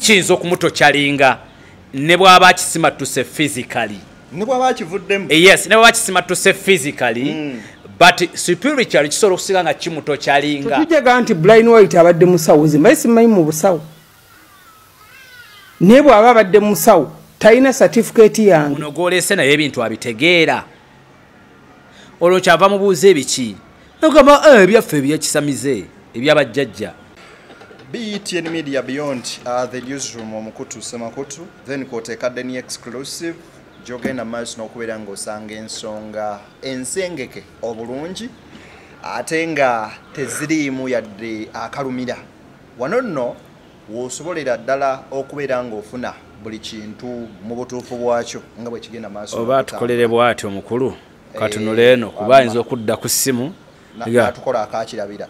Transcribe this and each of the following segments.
kiyinza okumutokyalinga ne bwaba akisimattuse physically eh, yes ne bwaba akisimattuse physically mm. but spiritually kisobola okusinga nga kimutokyalinga tujaga nti blind white abadde musawo zimbaye simanyi mu busawo naye bwaba abadde musawo talina satifiketi yange uno gwolese naye ebintu abitegeera olwo kyava mubuuza ebiki nogamba eh, ebyaffe ebyekisamize ebyabajjajja BETN Media Beyond uh, the newsroom omukutu semakutu then kwoteeka deni exclusive gyogenda maaso n'okubeera ng'osanga ensonga ensengeke obulungi ate nga teziriimu yadde akalumira wano nno w'osobolera ddala okubeera ng'ofuna buli kintu mu butuufu bwakyo nga bwe kigenda maaso oba atukolere bwati omukulu katunula eh, eno kuba ayinza okudda ku ssimu natukola akakirabira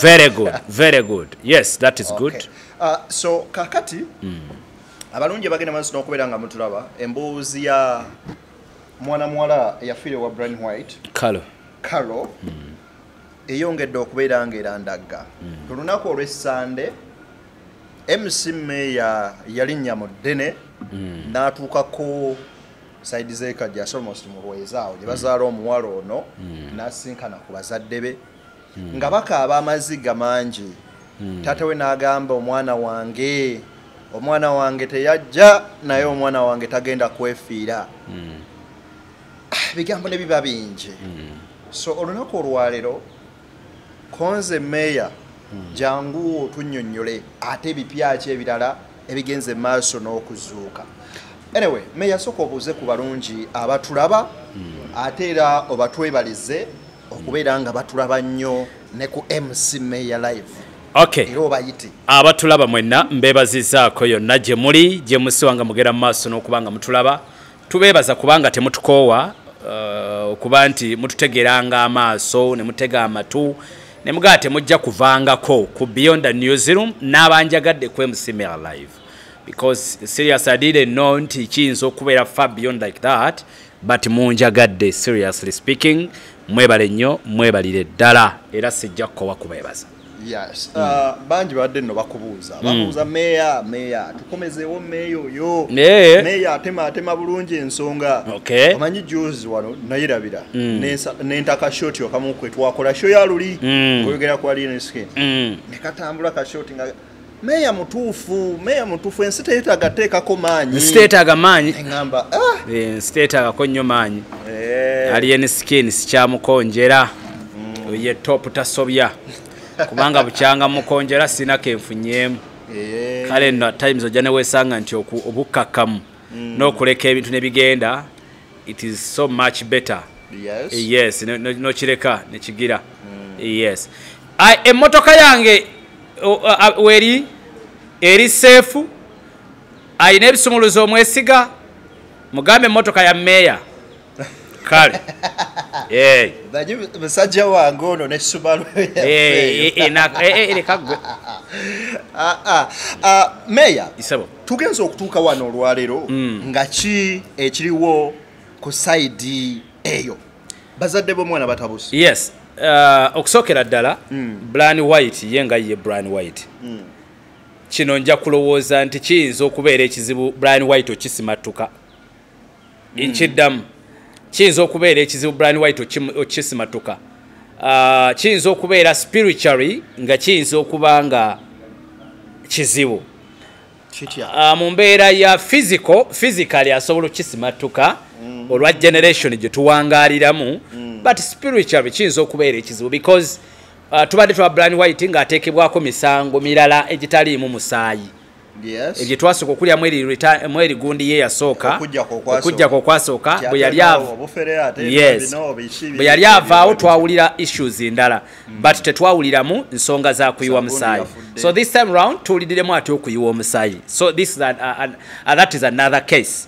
very good very good yes that is good okay. uh, so kakati mm. abalungi bagenda maaso n'okubeera nga mutulaba emboozi ya mwana muwala eyafiire wa brian white kalo kalo mm. eyongedde okubeera nga erandagga ku hmm. lunaku olwessande mc meeya yalinnya mu ddene hmm. n'atuukako saidi zekajja asolmost mu lweza awo gye bazaala hmm. omuwala ono n'asinkana ku bazadde be nga bakaaba amaziga mangi taata we n'agamba omwana wange omwana wange teyajja naye omwana wange tagenda kwefiira ah, ebigambo ne biba bingi mm. so olunaku olwaleero konze meeya mm. jangu otunyonyole ate ebipyaki ebirala ebigenze maaso n'okuzuuka anyway meeya soka obuuze ku balungi abatulaba mm. ate era obatwebalize okubeera nga batulaba nnyo ne ku mc meeya live okay. abatulaba mwenna mbebazizaako yonna gye muli gye musiwa nga mugera mu maaso n'okuba nga mutulaba tubeebaza kubanga temutukoowa uh, okuba nti mututegeranga amaaso ne mutega amatu ne mugaa temujja kuvangako ku beyond the new zealand n'abanjagadde ku mcmr live because serious i didn't know nti kiyinza okubeera far beyond like that but munjagadde seriously speaking mwebale nnyo mwebalire ddala era sijja kukowa kubeebaza Yes. Mm. Uh, bangi babadde nno bakubuuza mm. babuuza meeya meeya tukomezeewo meeya oyo eh. meeya atema atema bulungi ensonga okay. omanyi juzi wano nayirabira mm. nentaka shoti okamu kwe twakola sho ya luli mm. oyogera ku alien skin mm. nekatambula ka shoti nga Meya mutuufu, meya mutuufu ensi teyetaaga teekako maanyi. Ensi teyetaaga maanyi. Ngamba, ah. Eh, ensi teyetaaga ko nnyo maanyi. Eh. Alien skin sikyamukonjera. Mm. Ye top tasobya. Kubanga bukyanga mukonjera sina kenfunyemu. Eh. Kale na times ojane wesanga nti oku obukakamu. Mm. Nokuleka ebintu ne bigenda. it is so much better yes, yes. nokireka no, no nekigira mm. yes emmotoka yange weri eri seefu alina ebisumuluzo omwesiga mugambe emmotoka ya meeya kale musajja wange ono nekisubalwemeeya tugenze okutuuka wano olwaleero mm. nga ki ekiriwo ku saidi eyo bazadde bomwana batabuse yes uh, okusookera ddala mm. bran white ye nga ye bran white mm. kino nja kulowooza nti kiyinza okubeera ekizibu bran white okisimattuka nkiddamu kiyinza okubeera ekizibu brian white okisimatuka ah, kiyinza okubeera spiritually nga kiyinza okuba nga kizibu ah, mu mbeera ya physical physically asobola okukisimattuka mm. olwa generation gye tuwangaliramu mm. but spiritually kiyinza okubeera ekizibu because ah, tubadde twa brian white ng'ateekebwako misango mirala egitaliimu musaayi ebye twasooka okulya mweri gundi ye yasooka okujjako okwasooka bwe yali avaawo twawulira issues ndala mm. but tetwawuliramu nsonga za kuyiwa musaayi so this time round tuwuliriremu ati okuyiwa omusaayi so this uh, uh, uh, that is another case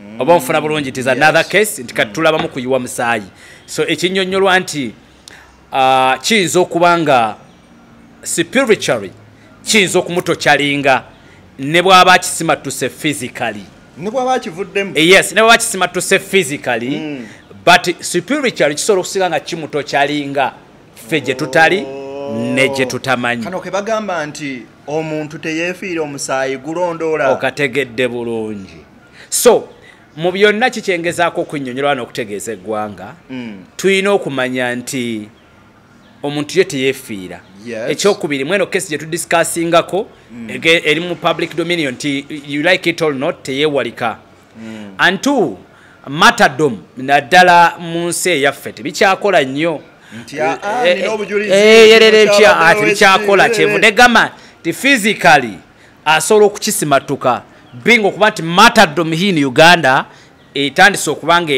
mm. oba onfuna bulungi tis another case nti kati mm. tulabamu kuyiwa musaayi so ekinyonyolwa nti kiyinza okuba nga spiritually kiyinza okumutokyalinga ne bwaba akisimattuse physically eh, yes ne bwaba akisimattuse physically mm. but spiritually kisobola okusinga nga kimutokyalinga ffe gye tutali oh. ne gye tutamanyi kano kebagamba nti omuntu teyefiira omusaayi gulondoola okategedde bulungi so mu byonna kikyengezaako okunyonyola wano okutegeeza eggwanga mm. tulina okumanya nti omuntu ye teyefiira ekyokubiri mweno kesi gyetudiscasingako mm. eri mu public dominion nti you like it all not teyewalika mm. and two matadom naddala mu nsi eyaffe tebikyakola nnyo yerera empya ati bikyakola kyevude gama ti physically asobola okukisimattuka binga okuba nti matadom hin uganda etandise okuba nga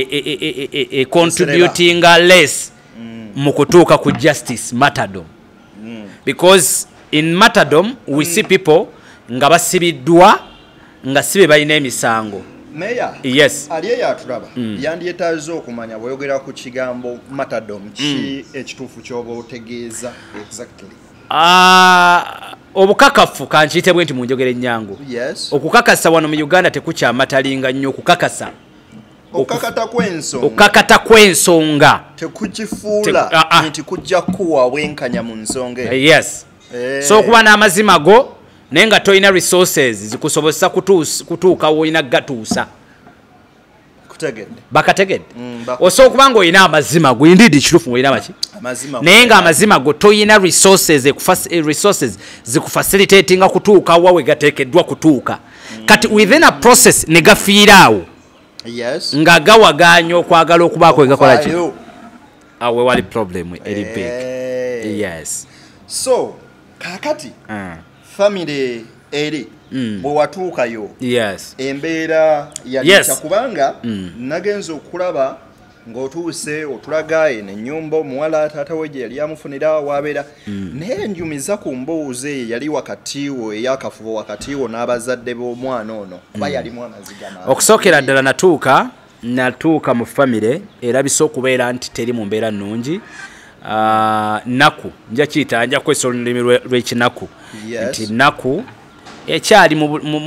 econtributinga e, e, e, less mm. mu kutuuka ku justice matadom mm. because in matadom we mm. see people nga basibiddwa nga si be balina emisango meya yes ali eyo atulaba mm. yandyetaaza okumanya bweyogera ku kigambo matadom ki mm. ekituufu kyoba otegeeza exactly uh, obukakafu kankiyite bwe nti mu njogera ennyangu okukakasa wano mu uganda tekukyamatalinga nnyo okukakasa okukakata kw'ensonga tekukifuula ah, ah. nti kujja kuwa obwenkanya mu nsonga eh, yes eh. so okuba n'amazima go naye nga tolina resources zikusobozesa kutuuka woolina gatuusa bakategedde mm, osobola okuba nga olina amazima go indeed kitufu ngaolina maki naye nga amazima go toyina resources eh, zikufacilitatinga kutuuka wa wegateekeddwa kutuuka mm. kati within a process ne gafiiraawo nga gawagaanya okwagala okubaako wegakola ki awo wewali problem eri big eh. yes so kakati ah. famire eri mm. bwe watuukayo yes. embeera yalita yes. kubanga mm. nagenza okulaba ng'otuuse otulaga eno ennyumba omuwala taata we gye yali amufunira waabeera mm. naye enjumiza ku mbuuzi eyo yali wakati wo eyakafubo wakati wo n'abazadde b'omwana ono kuba mm. yalimu amaziga okusookera ddala natuuka natuuka mu famire erabisa okubeera nti teri mu mbeera nnungi ah, naku nja kiyita nja kukozesa olulimi lw'ekinaku nti naku ekyali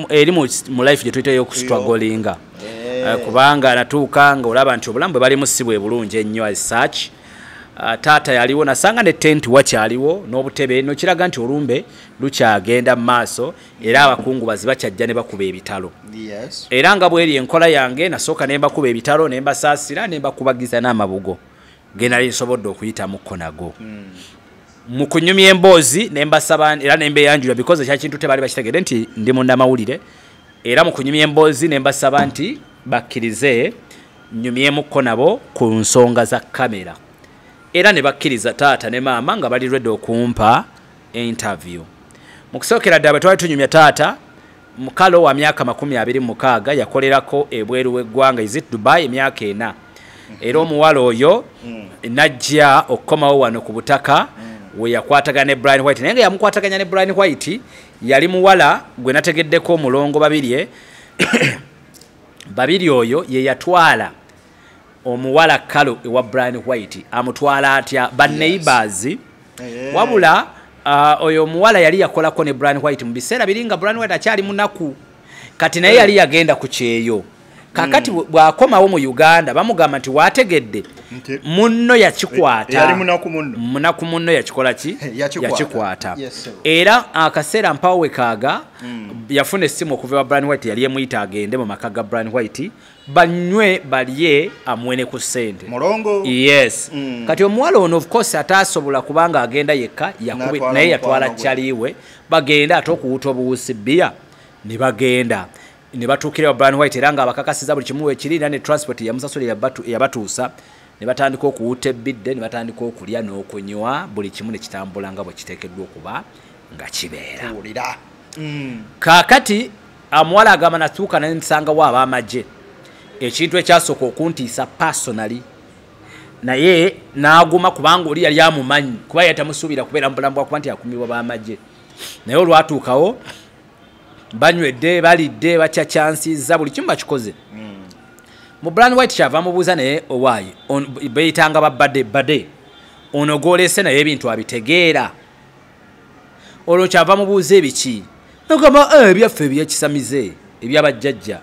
eri mu life gye tuyitayo okustragolinga eh. ah, kubanga natuuka nga olaba nti obulamu bwe balimu si bwe bulungi ennyo as such Uh, taata yaliwo nasanga ne tenti wakyaliwo n'obutebe nokiraga nti olumbe lukyagenda mu maaso era abakungubazi bakyajja ne bakuba ebitalo era nga bweri enkola yange nasooka ne mbakuba ebitalo ne mbasaasira ne mbakubagiza n'amabugo ge nali nsobodde okuyitamuko nago hmm. mu kunyumya emboozi ne mbasaba era ne mbeyanjula bikoze kya kintu tebaali bakitegede nti ndi munnamawulire era mu kunyumya emboozi ne mbasaba nti bakkirize nyumyemuko nabo ku nsonga za kamera era ne bakkiriza taata ne maama nga bali rwedde okumpa interview mu kusookera ddala bwe twali tunyumya taata mukalo wa myaka makumi abiri mu mukaaga yakolerako ebweru w'eggwanga isit dubai emyaka ena era omuwala oyo najja okukomawo wano ku butaka we yakwatagana ne brian white naye nga yamukwataganya ne brian white yali muwala gwe nategeddeko omulongo babirye babiri oyo ye yatwala omuwala kalo ewa brian white amutwala atya baneighbors yes. eh. wabula uh, oyo omuwala yali yakolako ne brian white mu biseera biri nga brian white akyali munaku kati naye yali yagenda ku kyeyo kakati mm. bwakomawo mu uganda bamugamba nti wategedde munno yakikwata munaku munno yakikola ki yakikwata era akaseera mpawo wekaaga mm. yafuna essimu okuva wa brian white yali emuyita agende mu maka ga brian white banywe balye amwene ku sente mulongo yes mm. kati omuwala ono of course ataasobola kubanga agenda yekka yakubi naye yatwala chaliwe bagenda ate okuwuta obuwusi bia ne bagenda ne batuukira brian white era nga abakakasiza buli kimu wekiri era ne transport yamusasulira yabatuusa ne batandika okuwuta ebbidde ne batandika okulya n'okunywa buli kimu ne kitambula nga bwe kiteekeddwa okuba nga kibeera mm. kaakati amuwala agamba natuuka naye nsangawo ab'amagye ekintu ekyasooka okuntiisa personaly naye n'aguma kubanga oli yali amumanyi kuba yali tamusuubira kubeera mu bulamu bwakuba nti akumibwa b'amagye naye olwatuukawo banywedde balidde bakyakyansiza buli kimu bakikoze hmm. mu brand white kyava mubuuza naye owaayi beyitanga babade bade ono gwolese naye ebintu abitegeera olwo kyava mubuuza ebiki nogamba eh, ebyaffe ebyekisamize ebyabajjajja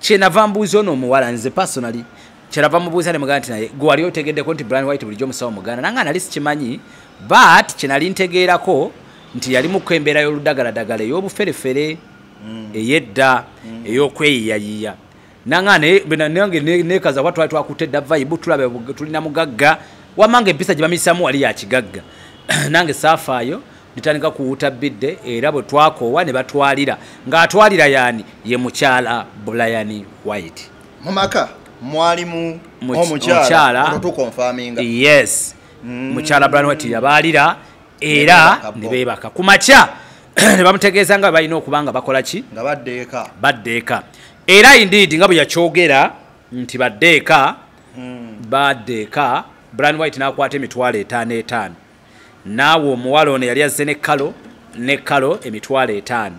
kyenava mbuuza ono omuwala nze personally kyerava mubuuza ne muganda nti naye gwe wali otegeddeko nti brian white bulijjo omusawo muganda nanga nali sikimanyi but kyenali ntegeerako nti yali muku embeera y'oludagaladagala ey'obuferefere mm. ey'edda mm. ey'okweyiyayiya nanga ne bena nange ne, ne kaza watu watu akute da vibe tulabe tulina mugagga wamange pisa jibamisamu wali ya kigagga nange safa yo nitandika kuwuta bidde era bwe twakoowa ne batwalira ng'atwalira yani ye mukyala bulayani white mu maka mwalimu omukyala tukonfaminga yes mm. mukyala bulayani white yabaalira era ne beebaka ku makya ne bamutegeeza nga balina okuba nga bakola ki nga baddeeka baddeeka era indeed nga bwe yakyogera nti badde eka hmm. badde eka bran white n'akwata emitwalo etaano etaano naawe omuwala ono yali azze ne kalo ne kalo emitwalo etaano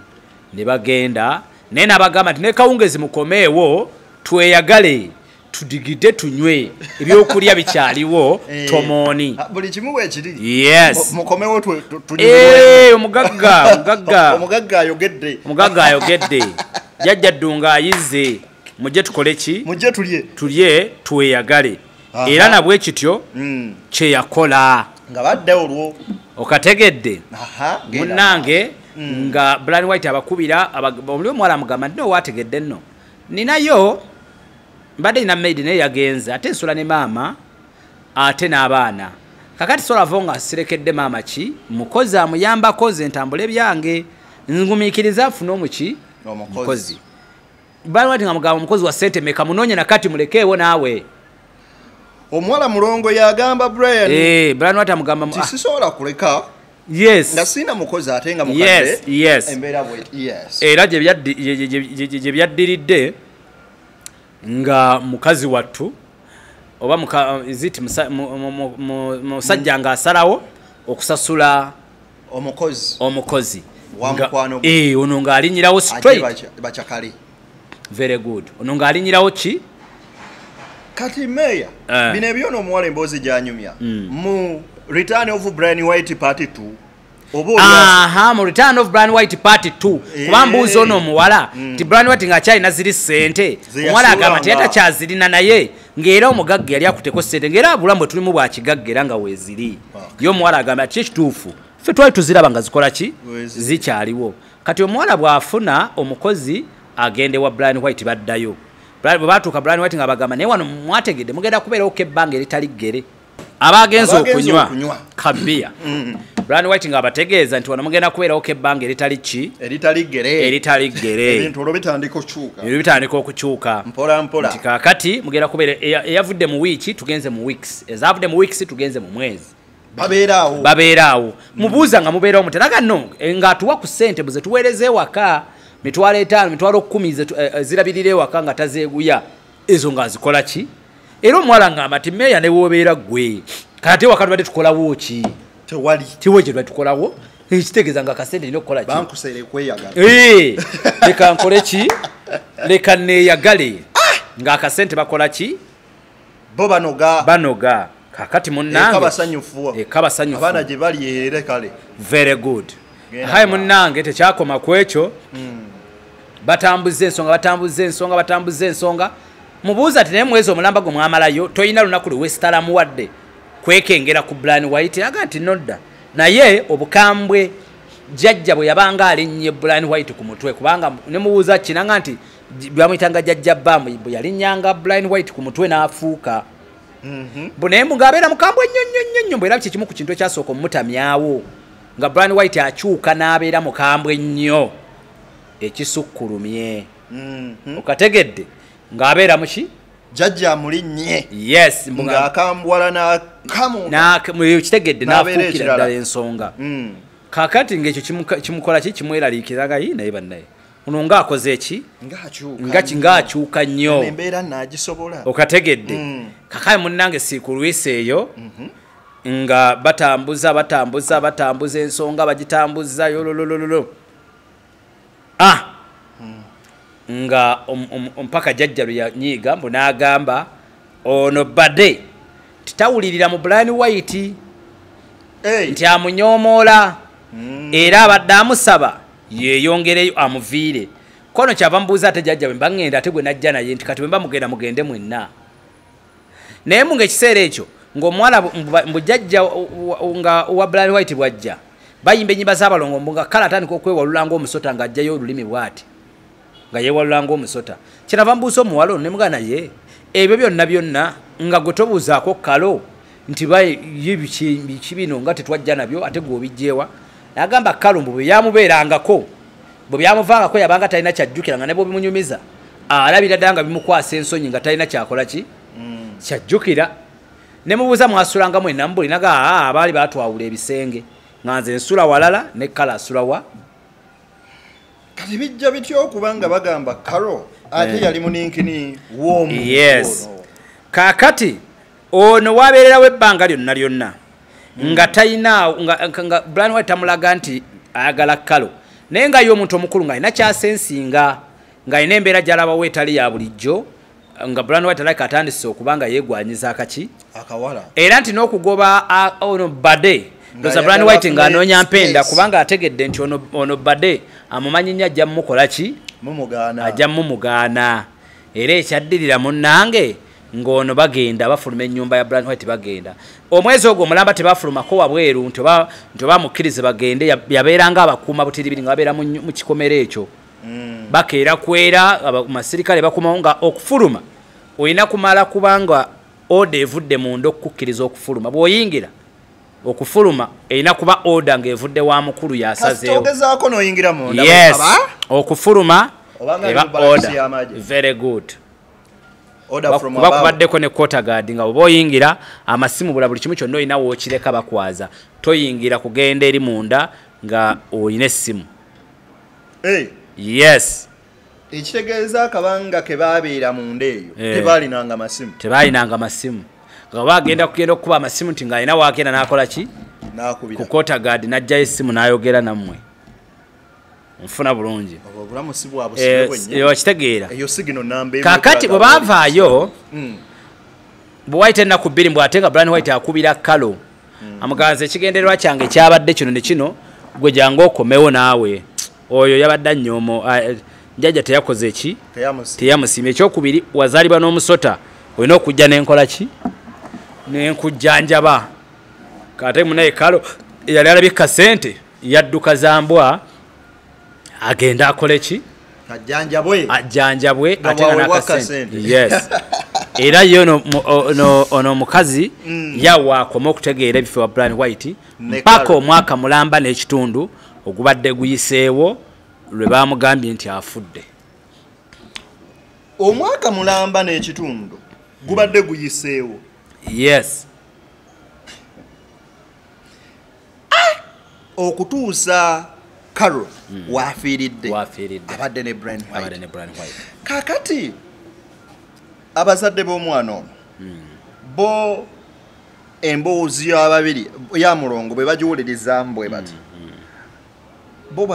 ne bagenda naye n'abagamba nti nekawungezi mukomeewo tweyagale tudigide tunywe ebyokulya bikyaliwo eh, tomoni ah, buli kimu wekiri yes mukomewo eh, omugagga omugagga omugagga ayogedde omugagga ayogedde jajja ddunga ayize mujje tukole ki mujje tulye tulye tweyagale era nabwe kityo mm. kyeyakola nga badde olwo okategedde munange mm. nga blan white abakubira omuli omuwala mugamba nti nowategedde nno ninayo mbadde nina maid naye yagenze ate nsula ne maama ate n'abaana kakati solavo nga sirekedde maama ki mukozi amuyambako nze ntambule byange ngumikiriza afune omuki omukozi balwati nga mugamba omukozi wa sente meka munonye nakati mulekeewo naawe omuwala mulongo yagamba brian eh, brian wati amugamba ah. sisobola kuleka yes nga sina mukozi ate nga mukadde yes yes era gye byaddiridde nga mukazi wattu oba iziti musajja nga asalawo okusasula omukozi omukozi eh, ono ng'alinyirawo straight very good ono ng'alinyirawo ki kati meya eh. bino ebyo noomuwala emboozi gyanyumya hmm. mu return of brian white party two aha mu return of brand white party t eh. kuba mbuuzi ono omuwala mm. nti brand white ngaakyalina ziri sente omuwala agamba nti yatakyazirina naye ngaera omugagga yali akuteko sente ngaera abulamu bwe tulimu bwakigagga era nga weeziri ye omuwala agamba ti ekituufu ffe twali tuziraba nga zikola ki zikyaliwo kati omuwala bw'afuna omukozi agende wa brand white baddayo bwe batuuka brand white nga bagamba naye wano mwategedde mugenda kubeerawo kebbanga eritali ggere abagenze okunywa kabiya mm. Brian White nga abategeeza nti wano mugenda kubeerawo ko ebbanga eritali ki eritali ggere eritali ggere ebintu olwo bitandika okukyuka ebintu bitandika okukyuka mpola mpola nti kaakati mugenda kubeera eyavudde mu wiiki tugenze mu weeks ezavudde mu weeks tugenze mu mwezi babeeraawo babeeraawo mubuuza nga mubeerawo muteraga no eh, ng'atuwa ku ssente buze tuweereza ewaka mitwalo etaano mitwalo kkumi eh, eh, zirabirira ewaka nga tazeeguya ezo nga nzikola ki era omuwala ngamba nti meeya ne wobeera ggwe kate waka tubadde tukolawo ki tewali tiwo kye tubadde tukolawo ekitegeeza nga kasente nina okukola leka nkole ki leka neeyagale ah! ng'akasente bakola ki bo banoga banoga kakati munange basanyufu eka basanyufu abana je bali ere kale very good hayi munange tekyakoma kwecho mm. batambuze ensonga batambuze ensonga batambuze ensonga mubuuza ati naye mwezi omulamba gwe mwamalayo toyina lunaku lwe wesitalamu wadde kwekengera ku blan white aga nti nodda naye obukambwe jajja bwe yabanga alinnye blan white ku mutwe kubanga ne mubuuza kinanga nti bamuyitanga jajja bamu bwe yalinnyanga blan white ku mutwe n'afuuka mhm. mbu naye mbu ng'abeera mukambwe nnyo nnyo nnyo nnyo mbu era kyekimu ku kintu ekyasooka omutamyawo nga brian white akyuka n'abeera mukambwe nnyo ekisukkulumye mhm. okategedde ng'abeera muki jajja muli nye yes nga akambwala na kamu na muyo kitegedde na fukira dala ensonga mm. kakati ngecho kimukola ki kimwela likira gayi na iba naye ono nga akoze eki nga akyuka nnyo okategedde mm. kakae munnange siikulwisa eyo mhm. nga batambuza batambuza batambuza ensonga bagitambuza yololololo ah! hmm. nga mpaka jajja lwe yanyiiga mbu n'agamba ono bade titawulirira mu brian white hey. nti amunyomoola mm. era abadde amusaba yeyongereyo amuviire kono kyava mubuuza ate jajja bwemba ngenda ate gwe najja naye nti kati bwemba mugenda mugende mwenna naye mu ngaekiseera ekyo ngaomuwala mbujajja nga wa brian white bwajja bayimba enyimba zabalongo mbu nga kale atandika okwewalula ngaomusota ngaajjayo olulimi bwati nga yewalula ngaomusota kyerava mbuusa omuwala ono nemugaa naye ebyo byonna byonna nga gwe tobuuzaako kalo nti biki bino nga tetwajja nabyo ate gwe obijjeewa nagamba kalo mbu bweyamubeerangako bwe byamuvangako yabanga talina kyajjukira nga nebwobimunyumiza alabira ddala nga bimukwasa ensonyi nga talina kyakola ki mm. kyajjukira nemubuuza mwasulanga mwena mubuli naga ah, abaali batwawula ebisenge nga nze nsula walala ne kala asulawa kati bijja bitya okuba nga bagamba karo ate eh. yali muninkini womu yes kakati ono wabeererawo ebbanga lyonna lyonna hmm. nga talinaawo nga blan wa tamulaga nti ayagala kalo naye nga ye omuntu omukulu nga alina kyasensinga ng'alina embeera gyalabawo etali ya bulijjo nga brand white like atandise okuba nga yegwanyiza akaki akawala era nti n'okugoba ono bade ndoza brand white nga anoonya mpenda kubanga ategedde nti ono, ono bade amumanyi nnyo ajja mumukola ki ajja mumugaana era ekyaddirira munnange ng'ono bagenda bafuluma ennyumba ya brand white bagenda omwezi ogwo omulamba tebafulumako wabweru nti oba mukkirize bagende yabeeranga abakuuma butiribiri nga babeera mu kikomera ekyo mm. bakeera kwera amasirikale bakomawo nga okufuluma olina kumala kubanga oda evudde munda okukukkiriza okufuluma bwoyingira okufuluma erina kuba oda ngaevudde wa mukulu yasazeewo okufuluma eba oda very good kuba kubaddeko ne kotagadi nga oba oyingira amasimu bula buli kimu kyonna olina wookireka bakwaza toyingira kugenda eri munda nga olina essimu hey. yes ekitegeeza akabanga ke baabeera munda eyo eh. tebaalinanga masimu tebaalinanga masimu nga bagenda kugenda okukuba amasimu nti ng'alina waagenda n'akola ki ku kotagadi n'ajjayo essimu n'ayogera nammwe nfuna bulungi okitegeera eh, kakati bwe bavaayo hmm. bwe wayita ennaku bbiri mbw ate nga bran white akubira kalo mm. amuganza ekigendererwa kyange kyabadde kino ne kino gwe jangu okomewo naawe oyo yabadde anyoomo njaja teyakoze ki teyamusiima ekyokubiri wazaalibwa n'omusota olina okujja nenkola ki nenkujjanjaba kate munaye kalo eyali alabika sente yadduka zambwa agenda akole ki ajjanjabwe ajjanjabwe ate nga nakasente yes era ye ono omukazi mm. yawaakoma okutegeera ebife wa brian white mpaka omwaka mulamba n'ekitundu ogubadde guyiseewo lwe bamugambye nti afudde omwaka mulamba n'ekitundu gubadde guyiseewo yes ah! okutuusa carol mm. wafiiridde abadde ne brin white kakati abazadde b'omwana ono mm. bo emboozi y'ababiri ya mulongo bwe bagiwuliriza mbwe bati mm. bo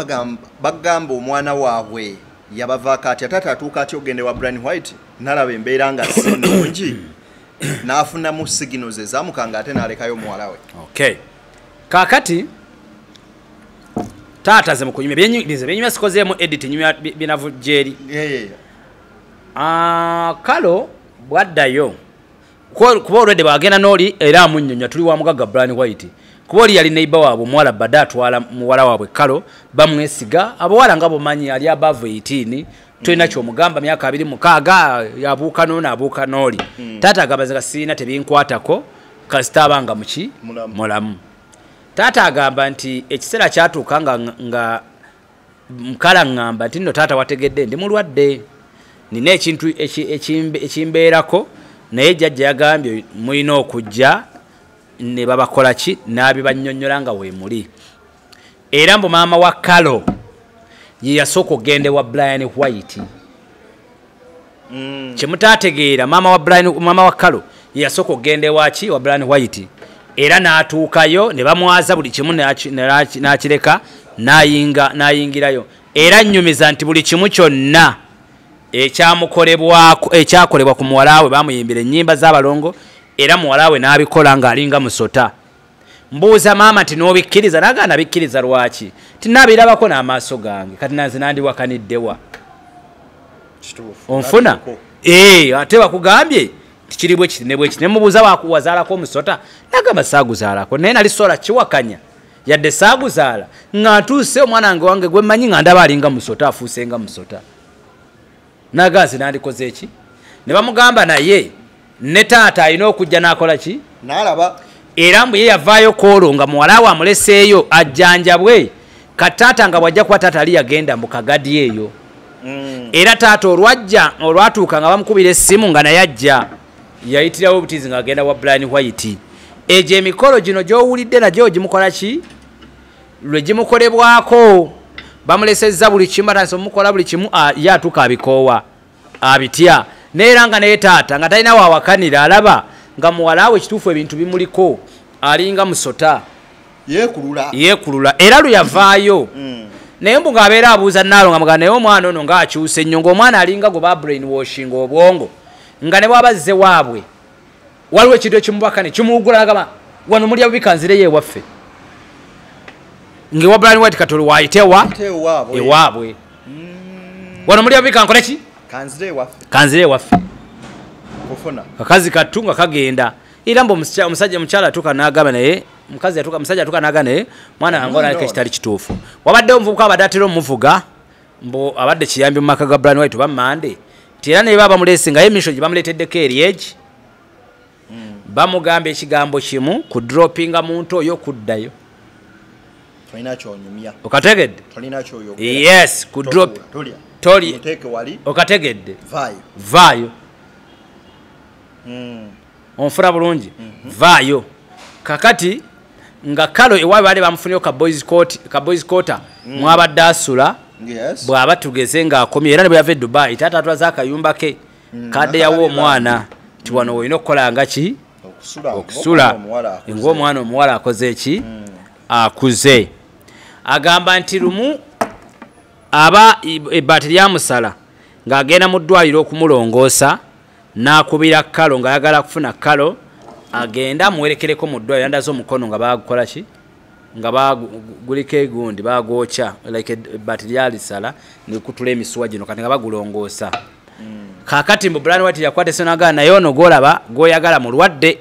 bagamba omwana waabwe yabavaako atya taata atuuka atya ogende wa brian white nalaba embeera nga si nungi n'afunamu signals ezamukanga ate n'alekayo omuwala we okay kakati taata ze mukunyumya byenyize byenyumya sikozeemu edit nyumya binavu gyeri ah, kalo bwaddayo kuba olwedde bagenda nooli era amunyonya tuli wa mugagga brian white kuba oli yali neiba waabwe omuwala bade atwala muwala waabwe kalo bamwesiga abawala nga bumanyi ali above 18 tolina mm. kyomugamba myaka abiri mukaaga abuuka nooni abuuka nooli mm. taata agamba nga sirina tebinkwatako kasita abanga muki mulamu taata agamba nti ekiseera kyatuuka nga mukala ngamba nti no taata wategedde ndi mulwadde nina ekintu ekimbeerako naye jajja yagambye mulina okujja ne babakola ki n'abibannyonnyola nga weemuli era mbu maama wa kalo ye yasooka okugenda ewa brian white mm. kyemutategeera maama wa brian maama wa kalo yeyasooka okugenda ewaki wa brian white era n'atuukayo ne bamwaza buli kimu n'akireka nayinga nayingirayo era nnyumiza nti buli kimu kyonna ekyamukolebwako ekyakolebwa ku muwala we bamuyimbira ennyimba z'abalongo era muwala we n'abikola ng'alinga musota mbuuza maama nti n'obikkiriza naga nabikkiriza lwaki tinabirabako n'amaaso gange kati nanze nandiwakaniddewa onfuna eh, ate bakugambye tikiri bwekiti nebwekiti nemubuuza wakuwazaalako omusota nagamba saaguzaalako naye nali sola kiwakanya yadde saaguzaala nga ntuuse omwana wange wange gwemanyi nga ndaba alinga musota afuuse nga musota nagazi nandikoze eki ne bamugamba naye ne taata alina okujja nakola ki nalaba era mbu ye yavaayo kwolwo nga muwala we amuleseeyo ajjanjabwe ka taata nga bwajja kuba taata ali yagenda mu kagadi eyo mm. era taata olwajja olwatuuka nga bamukubira essimu nga naye ajja yayitirawo obutizi nga agenda wa brian white egyo emikolo gino gyowulidde nagyo gimukola ki lwe gimukolebwako bamulesezza buli kimu batandisa omukola buli kimu ye atuuka abikoowa abitya neera nga naye taata nga talina wawakanira alaba nga muwalaawo ekituufu ebintu bimuliko alinga musota yeekulula era lwe yavaayo mm. naye mbu ng'abeera abuuza naalo nga mugaa naye omwana ono ng'akyuse nnyo ng'omwana alinga gwe ba brain washing obwongo nga ne bwaba zze waabwe waliwo ekintu ekimubaka ne kimuwugula agamba wano mulya bubi kanzireyo ewaffe ngewa brian white katolo wayitewa ewaabwe mm. wano mulya bubi kankole ki kanzire ewaffe kakazi kattu nga kagenda era mbu omusajja omukyala atuuka n'agamba naye mukazi yatuka musajja atuka naga naye mwana angola yake kitali kituufu wabadde omuvubuka abadde atera omuvuga mbu abadde kiyambi mu maka ga bran white oba mande nti era neba bamulese ngaye emisho gye bamuleteddeko eryegi hmm. bamugamba ekigambo kimu ku droppinga muntu oyo okuddayo okategedde yes ku drop toli okategedde vaayo hmm. onfuna bulungi mhm. vaayo kakati nga kalo ewaabwe baali bamufuniyo ka boys quarter mm. mwabadde asula bw'aba tugeze ng'akomye era ne bwe yava e dubai taata atulaze akayumba ke mm, kadde yawa omwana nti wano olina okukola nga ki okusula ngaomwana omuwala akoze eki mm. akuze agamba nti lumu aba ebbaati lyamusala ng'agenda mu ddwaliro okumulongoosa n'akubira kalo ng'ayagala kufuna kalo agende amuwerekereko mu ddwaliro yandaze omukono nga bagukola ki nga baguliko egundi bagwokya like bat lyalisala nekutula emisuwa gino kati nga bagulongoosa hmm. kakati mbu bran wati yakwata esonagaa naye ono gwolaba gwoyagala mulwadde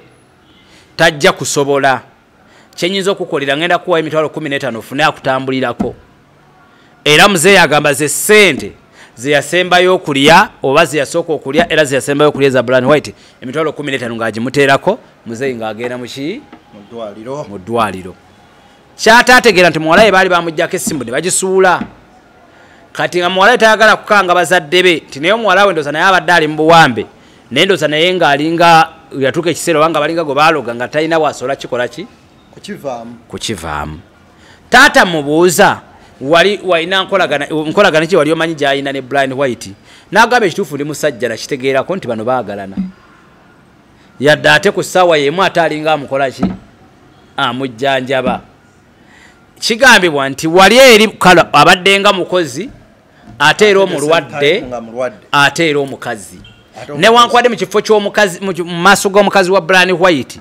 tajja kusobola kyenyinza okukolera ngenda kuwayo emitwalo kumi n'etaano ofune akutambulirako era muzeeyi agamba ze ssente zeyasembayo okulya oba zeyasooka okulya era zeyasembayo okulya eza blan white emitwalo kumi n'etaano ng'agimuteerako muzeeyi ng'agenda muki mu ddwaliro kyataategeera nti muwalaye baali bamugjako essimu ne bagisuula kati nga muwalaye tayagala kukanga bazadde be nti naye omuwala we ndoza naye abadde ali mu buwambe nendoza naye nga alinga yatuka ekisero wanga balinga go baloga nga tayina wasola kikola ki kukivamu kukivamu tata mubuza wali waina nkolagana nkolagana ki wali omanyi jaina ne blind white nagabe kitufu ndi musajja na kitegeera ko nti bano bagalana yadda ate ku sawa yemu atalinga amukola ki amujjanjaba kigambibwa nti wali eri abaddenga mukozi ate era omulwadde ate era omukazi newankubadde mu kifo kyomukazi mu maaso g'omukazi wa brani white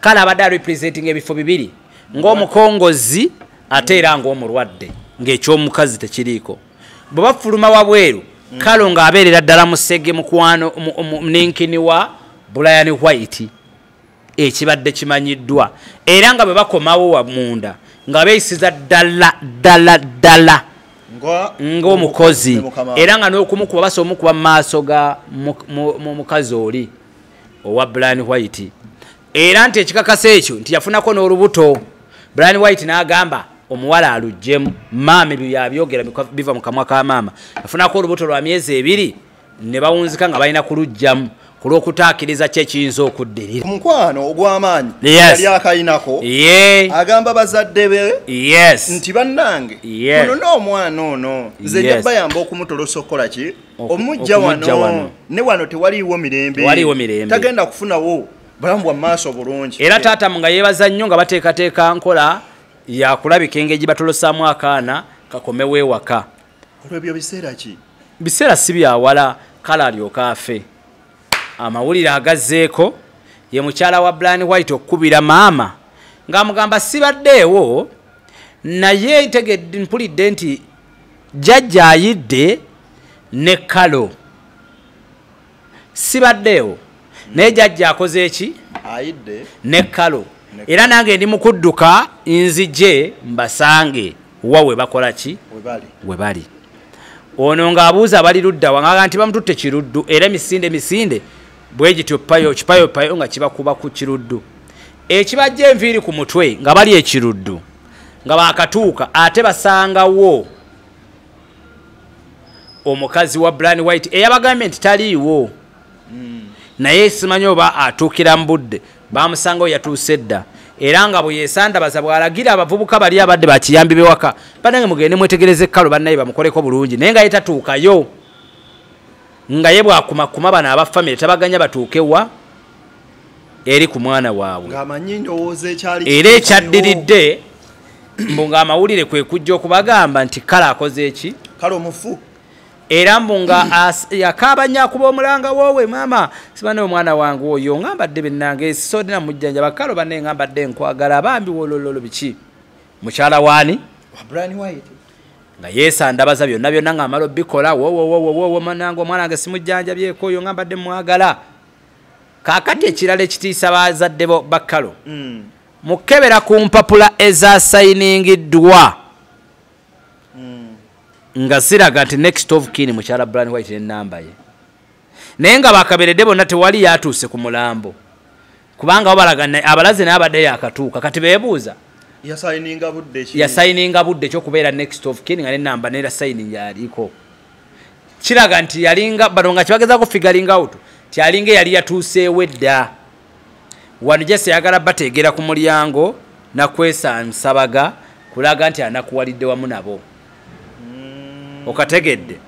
kale abadde arepresentinga ebifo bibiri ng'omukongozi ate era ng'omulwadde ng'ekyomukazi tekiriiko bwe bafuluma wabweru mm. kalo ng'abeerera ddala musege mukwano ninkini wa bulayani white ekibadde kimanyiddwa era nga bwe bakomawo wa munda nga beeyisiza ddala ddala ddala ng'omukozi era nga n'okumukuba basa omukuba mu maaso ga mukazi oli owa brian white era nti ekikakasa ekyo nti yafunako n'olubuto brian white n'agamba omuwala alujjemu maama ebyo yabyogera biva mu kamwa ka maama yafunako olubuto lwa myezi ebiri ne bawunzika nga balina kulujjamu ku lw'okutaakiriza kye kiyinza okuddirira omukwano ogw'amaanyi yali akayinako agamba bazadde be nti bannange ono n'omwana ono nze nja bayamba okumutolosa okukola ki omujja wano ne wano tewaliiwo mirembe tagenda kufunawo bulamu bwa maaso bulungi era taatamu nga yeebaza nnyo nga bateekateeka nkola yakulabika engeri gye batolosaamu akaana kakomewo ewaka olwebyo biseera ki biseera si byawala kale alyoka afe amawulire agazzeeko ye mukyala wa blan white okukubira maama ng'amugamba sibaddeewo naye ntegedde mpulidde nti jjajja ayidde ne kalo sibaddeewo naye jajja akoze eki ne kalo era nange ndi mukudduka nzije mbasange wa webakola ki webali ono ng'abuuza bali ludda wanganga nti bamututte kiruddu era emisinde emisinde bwe gityo payo kipayo payo nga kibakuba ku kiruddu ekibajja enviiri ku mutwe nga bali ekiruddu nga baakatuuka ate basangawo omukazi wa bran white eyabagambye nti taliiwo hmm. naye simanyi oba atuukira mu budde bamusanga o yatuuse dda era nga bwe yesandabaza bw'alagira abavubuka bali abadde bakiyambi bewaka banange mugende mwetegereze kalo bannaye bamukoleko bulungi naye nga ye tatuukayo nga ye bwakumakuma bano abafamire tabaganya batuuke wa eri ku mwana waabwe era ekyaddiridde mbu ng'amawulire kwe kujja okubagamba nti kale akoze eki kale omufu era mbu nga yakaabanya kuba omulanga woowe maama sibane omwana wange oyo nga mbadde bennange esisoodina mujjanja bakalo banne nga mbadde nkwagala abambi wolololo biki mukyala waani nga yesandabaza byonna byonna nga amala obikola wowowowowomanange omwana wange simujjanjabyeko oyo nga mbadde mwagala kaakati ekirala ekitiisa bazadde bo bakkalo mm. mukebera ku mpapula ezasayiningiddwa mm. nga ziraga nti next of kin mukyala bran white nenamba ye naye nga bakaberedde bonna tewali yatuuse ku mulambo kubanga babalaga abalaze naye abadde yakatuuka kati bebuuza yasayininga budde ekyokubeera next of kin nga nenamba nera sayining yaliko kiraga nti yalinga bano nga kibagezako figuring out ti alinga eyali yatuuseewo edda wano jese yagala bateegera ku mulyango nakwesansabaga kulaga nti anakuwalidde wamu nabo mm. okategedde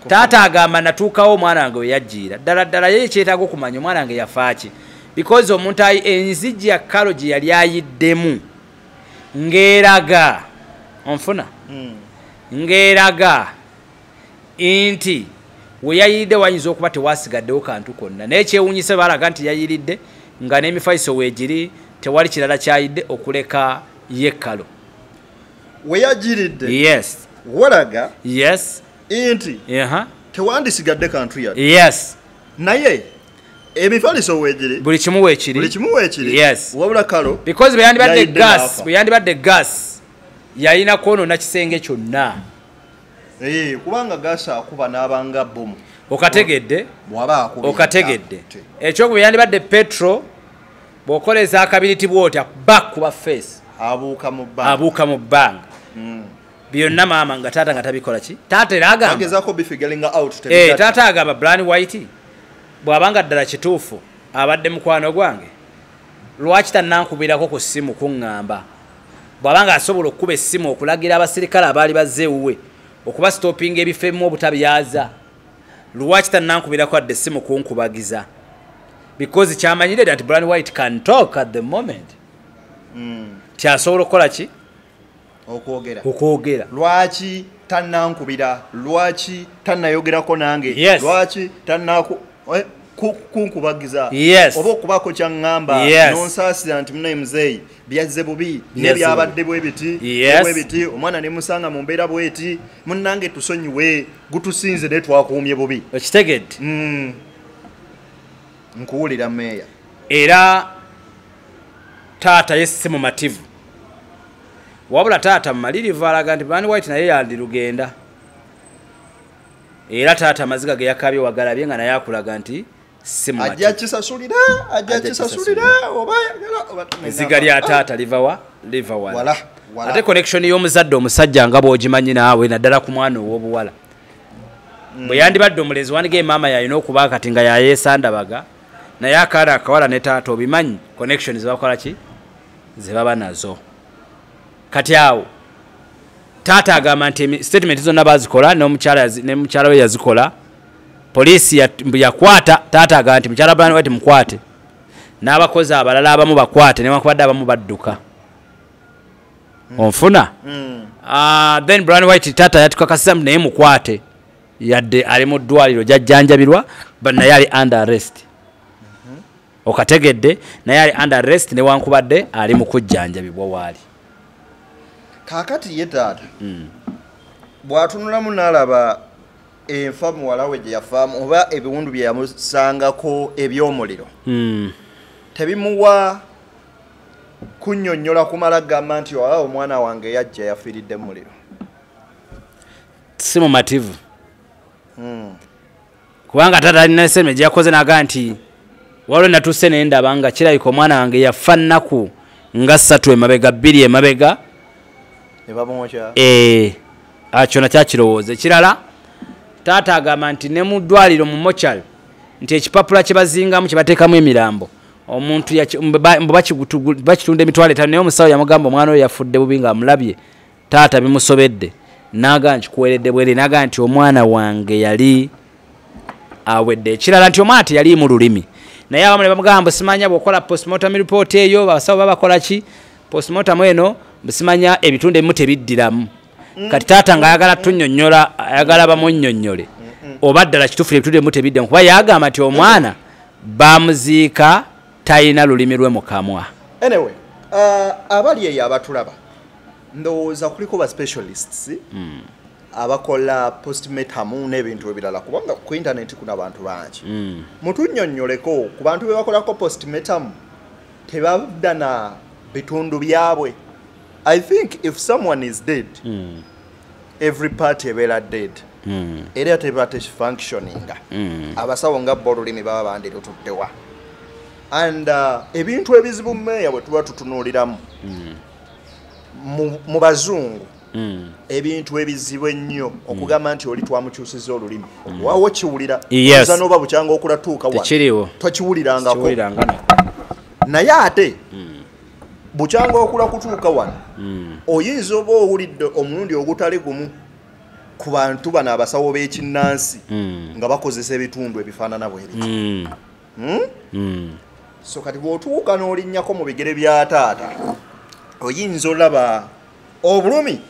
taata agamba natuukawo omwana wange weyajjiira ddala ddala ye kyetaaga okumanya omwana wange yafaaki because omuntu enzijja kalo gye yali ayiddemu ng'eraga onfuna hmm. ng'eraga nti we yayiridde wayinza okuba tewasigaddewo kantu konna naye kyewunyise balaga nti yayiridde nga n'emifaiso weegiri tewali kirala kyayidde okuleka yekkalo weyagiridde yes walaga yes inti uh -huh. tewandisigadde kantu yadde yes naye emifaliso wegiri buli kimu wekiri buli kimu wekiri yes wabula kalo because beyandi badde gas beyandi badde gas yayina kono na kisenge kyonna eh kubanga gas akuba nabanga bomu okategedde bwaba akuba okategedde ekyo kuba yandi badde petro bokoleza akabiriti bwoti back kuba face abuka mu bang abuka mu bang mm. byonna maama nga taata nga tabikola ki taata era agambataata eh, agamba blan white bw'abanga ddala kituufu abadde mukwano gwange lwaki tanankubirako ku ssimu kuŋŋamba bw'abanga asobola okukuba essimu okulagira abasirikale abaali bazze ewuwe okuba sitopinga ebifo ebimu obutabyaza lwaki tanankubirako adde essimu kunkubagiza because kyamanyire nti blan white can talk at the moment hmm. ti asobola okukola ki okwogera okwogera lwaki tanankubira lwaki tanayogerako nange yes. lwaki tanaku eh, kunkubagiza yes. oba okubako kyaŋŋamba yes. nonsaasira nti munaye muzeeyi byazze bubi nebyabadde bwebiti yes. bwebiti omwana nemusanga mu mbeera bweti munange tusonyiwe gutusinze naye twakuumye bubi okitegedde mm. nkuwulira meeya era taata ye si mumativu wabula taata mumalirivu alaga nti bani white naye yandirugenda era taata amaziga ge yakabye wagalabye nga naye akulaga nti eziga lya taata livawa livawa ate connection y'omuzadde omusajja nga bwogimanyi naawe naddala ku mwana ow'obuwala mm. bwe yandibadde omulezi wandiga emaama yalina okuba kati nga yayesandabaga naye akaana akawala ne taata obimanyi connection zebakola ki zebaba nazo kati awo taata agamba nti statement zonna bazikola nemukyala we yazikola poliisi yakwata taata agamba nti mukyala brand white mukwate n'abakozi abalala abamu bakwate newankubadde abamu badduka onfuna mm. uh, then brand white taata yatukakasiza naye mukwate yadde ali mu ddwaliro gyajjanjabirwa but naye ali under arrest mhm. okategedde naye ali under arrest newankubadde ali mu kujjanjabibwa waali kakati ye taata hmm. bwatunulamu nalaba enfa muwala we gyeyafaamu oba ebiwundu byeyamusangako ebyomuliro hmm. tebimuwa kunyonyola kumala gamba nti oa omwana wange yajja yafiiridde mumuliro si mumativu hmm. kubanga taata alina eseme gyeyakoze naga nti waliwo natuuse naye ndaba nga kirabika omwana wange yafa nnaku nga ssatu emabega bbiri emabega eh, ah, kyona kyakirowooza ekirala taata agamba nti ne mu ddwaliro mu mocal nti ekipapula kye bazingamu kye bateekamu emirambo omuntu bakitunda emitwalo etano naye omusawo yamugamba omwana oyo yafudde bubi nga amulabye taata bimusobedde naga nkikuweredde bwere naga nti omwana wange yali awedde ekirala nti omwana teyaliimu lulimi naye abamu ne bamugamba simanya bwokola postmortem report eyo basawo babakola ki postmortem eno simanya ebitundu ebimu tebiddiramu mm. kati taata nga ayagala tunyonyola ayagala bamunyonyole oba ddala kitufu ebitundu ebimu tebiddamu kuba yagamba nti omwana bamuziika talina lulimi lwe mukamwa anyway, uh, abali eyo abatulaba ndowooza kuliko ba specialists mm. abakola postmetamu n'ebintu ebirala kubanga ku intaneti kuna abantu bangi mm. mutunyonyoleko ku bantu bebakolako postmetamu tebadda na bitundu byabwe i think if someone is dead mm. every part ebeera dead mm. era teba tefunctioninga mm. abasawo nga bo olulimi baba bandi lututtewa and uh, ebintu ebizibu meeya bwe tuba tutunuuliramu mm. mu bazungu hmm. ebintu ebizibu ennyo hmm. okugamba nti oli twamukyusiza olulimi hmm. wawo kiwulira oza noba bukyanga okulatuuka tokiwulirangako naye ate bukyanga okula kutuuka wano oyinza oba owulidde omulundi ogutali gumu ku bantu bano abasawo b'ekinnansi nga bakozesa ebitundu ebifaanana bwebiti hmm? Hmm. so kati bwotuuka n'olinnyako mu bigere bya taata oyinza olaba obulumi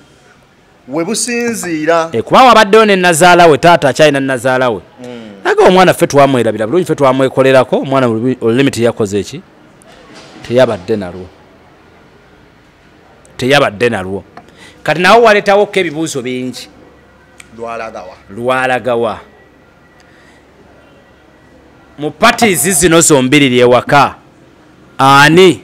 we businziira eh, kuba wabaddewo ne nazaala we taata akyalina nazaala we hmm. aga omwana ffe twamwerabira bulungi ffe twamwekolerako omwana olulimi teyakoze eki teyabadde nalwo teyabadde nalwo kati nawe waletawo ko ebibuuzo bingi lwalagawa lwalagawa mu patizi zino zombiriri ewaka ani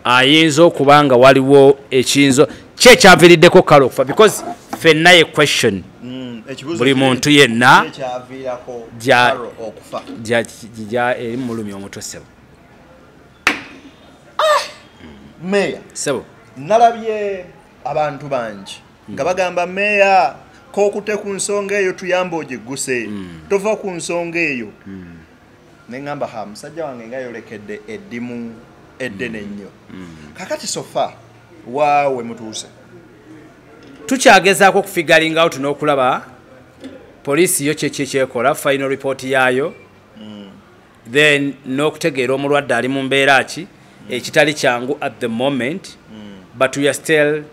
ayinza okuba nga waliwo ekiyinzo ki ekyaviriddeko kale okufa because fenna ye question mm, buli muntu yenna eri mulumi omutwe sebo ah! meya sebo nalabye abantu bangi nga bagamba meeya kokute ku nsonga eyo tuyamba ogigguse mm. tova ku nsonga eyo mm. neŋamba ha musajja wange nga yolekedde eddimu eddene ennyo mm. kakati sofa waawe mutuuse tukyagezaako okufigalingawo tuna okulaba poliisi yo kyekyekyekola final report yaayo then n'okutegeera omulwadde ali mu mbeera ki mm. ekitali kyangu at the moment mm. but weare still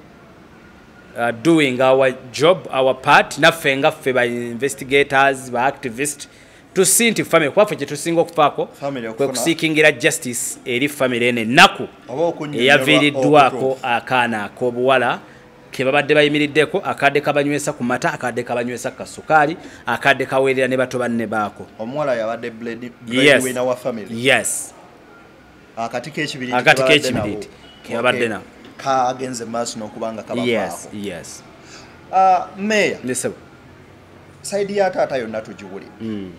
uh, doing our job our part naffe nga ffe ba investigators ba activist tusi nti famiry kuba ffe kyetusinga okufaako kwe kusiikingira justice eri famiry eno ennaku eyaviiriddwako akaana ak'obuwala kebabadde bayimiriddeko akadde kabanywesa ku mata akadde kabanywesa ku kasukaali akadde kaweerera ne bato banne baako omuwala yabadde bledwina wa famiry yes akati kekibiriiti kebabadde nako kagenze maaso nokuba nga kabafaako yes ah, meya saidi ya taata yonna tugiwulira hmm.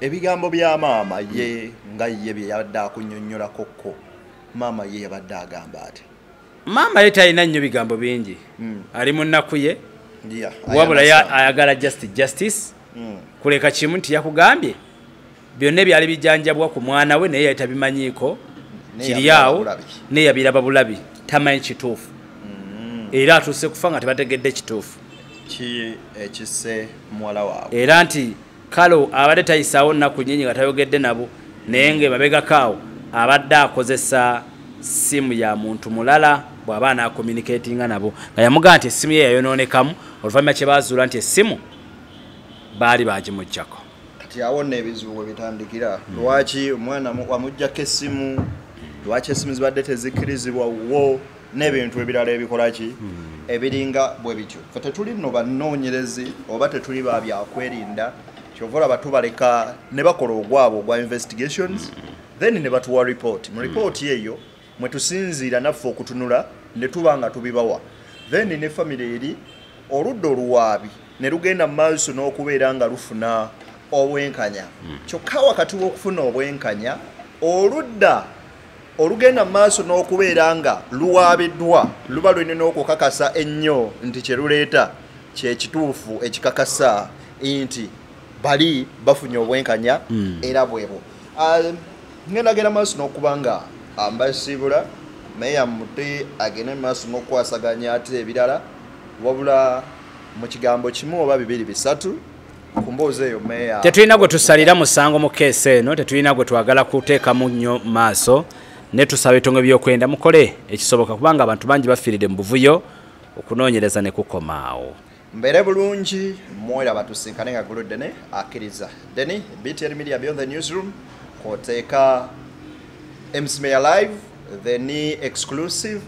ebigambo bya maama ye nga ye bye yabadde akunyonnyolakokko maama ye yabadde agamba ati maama ye talina nnyo bigambo bingi hmm. ali mu nnaku ye wabula ayagala just justice hmm. kuleka kimu nti yakugambye byonna ebyali bijanjabwa ku mwana we naye yali tabimanyiiko kiri awo naye yabiraba bulabi tamanyi kituufu hmm. era atuuse kufa nga tebategedde kituufu era nti kale abadde tayisaawo nnaku nyingi nga tayogedde nabo naye nga emabegakaawo abadde akozesa simu ya muntu mulala bw'aba anaakomunikatinga nabo nga yamugaa nti essimu ye yayonoonekamu oluvannyuma kye baazuula nti essimu baali baagimuggyako kati awo nno ebizibu bwe bitandikira lwaki omwana wamuggyako essimu lwaki essimu zibadde tezikkirizibwa wo n'ebintu ebirala ebikola ki hmm. ebiringa bwe bityo fe tetuli no banoonyerezi oba tetuli ba byakwerinda kyova olaba tubaleka ne bakola ogwabwe ogwa investigations hmm. then ne batuwa report mu hmm. report eyo mwe tusinziira naffe okutunula ne tuba nga tubibawa then ne famire eri oludda oluwaabi ne lugenda mu maaso n'okubeera nga lufuna obwenkanya kyokka wakati w'okufuna obwenkanya oludda olugenda mu maaso n'okubeera nga luwaabiddwa luba lulina n'okukakasa ennyo nti kye luleeta kyekituufu ekikakasa nti bali bafunye obwenkanya hmm. era bwebo ah, ngendagera maaso n'okuba nga ambasiibula meya muti agende mu maaso n'okukwasaganya ate ebirala wabula mu kigambo kimu oba bibiri bisatu tetulina gwe tusalira musango mu keesi eno tetulina gwe twagala kuteekamu nnyo maaso ne tusaba etongo ebyokwenda mukole ekisoboka kubanga abantu bangi bafiiride mu buvuyo okunoonyereza ne kukomaawo mbeere bulungi mwoyo abatusinkane nga gulu dene akkiriza deni btn media beyond the newsroom kwoteeka msmeya live the ni exclusive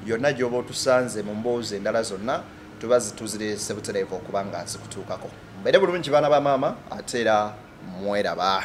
yonna gyoba otusanze mu mboozi endala zonna tuba zituzirese butereevu okuba nga zikutuukako mbeere bulungi baana ba maama ate era mweraba